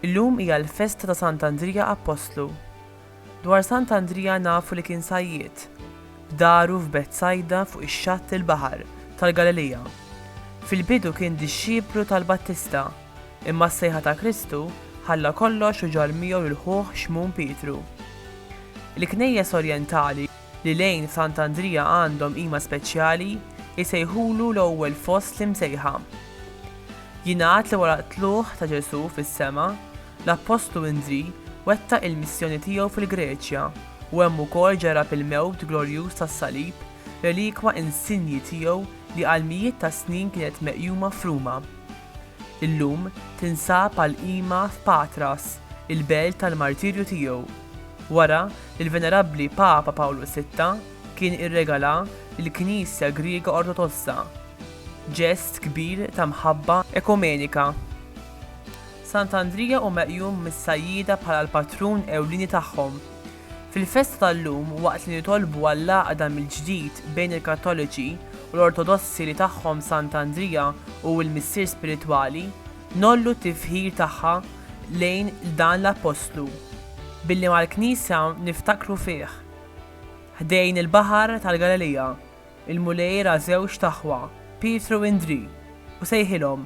Illum hija l-festa ta' Sant' Andrija Appostlu. Dwar Sant' Andrija nafu li kien sajjied. F'daru f'Betsajda fuq ix-xatt il-baħar tal-Galilija. Fil-bidu kien dixxiplu tal-Battista Imma s-sejħa ta' Kristu ħalla kollox u ġarr miegħu lil ħuh Xmun Pietru. Il-Knejjes Orjentali, li lejn Sant'Andrija għandhom qima speċjali, isejħulu l-ewwel fost l-imsejħa. Jingħad li wara t-tlugħ ta' Ġesù fis-sema, l-Appostlu Indrì wettaq il-missjoni tiegħu fil-Greċja u hemm ukoll ġarrab il-mewt glorjuż tas-salib, relikwa insinji tiegħu li għal mijiet ta' snin kienet meqjuma f'Ruma. Illum tinsab għal qima f'Patras, il-belt tal-martirju tiegħu, wara li l-Venerabbli Papa Pawlu Sitta kien irregalha lill-Knisja Griega Ortodossa, ġest kbir ta' mħabba ekumenika. Sant'Andrija hu meqjum mis-sajjieda bħala l-patrun ewlieni tagħhom, Fil-festa tal-lum, waqt li nitolbu għall-għaqda mill-ġdid bejn il-Kattoliċi u l-Ortodossi li tagħhom Sant Andrija hu l-missier spiritwali, ngħollu t-tifħir tagħha lejn dan l-Appostlu billi mal-Knisja niftakru fih. Ħdejn il-baħar tal-Galilija, il-Mulej ra żewġt aħwa, Pietru u Indrì, u sejħilhom.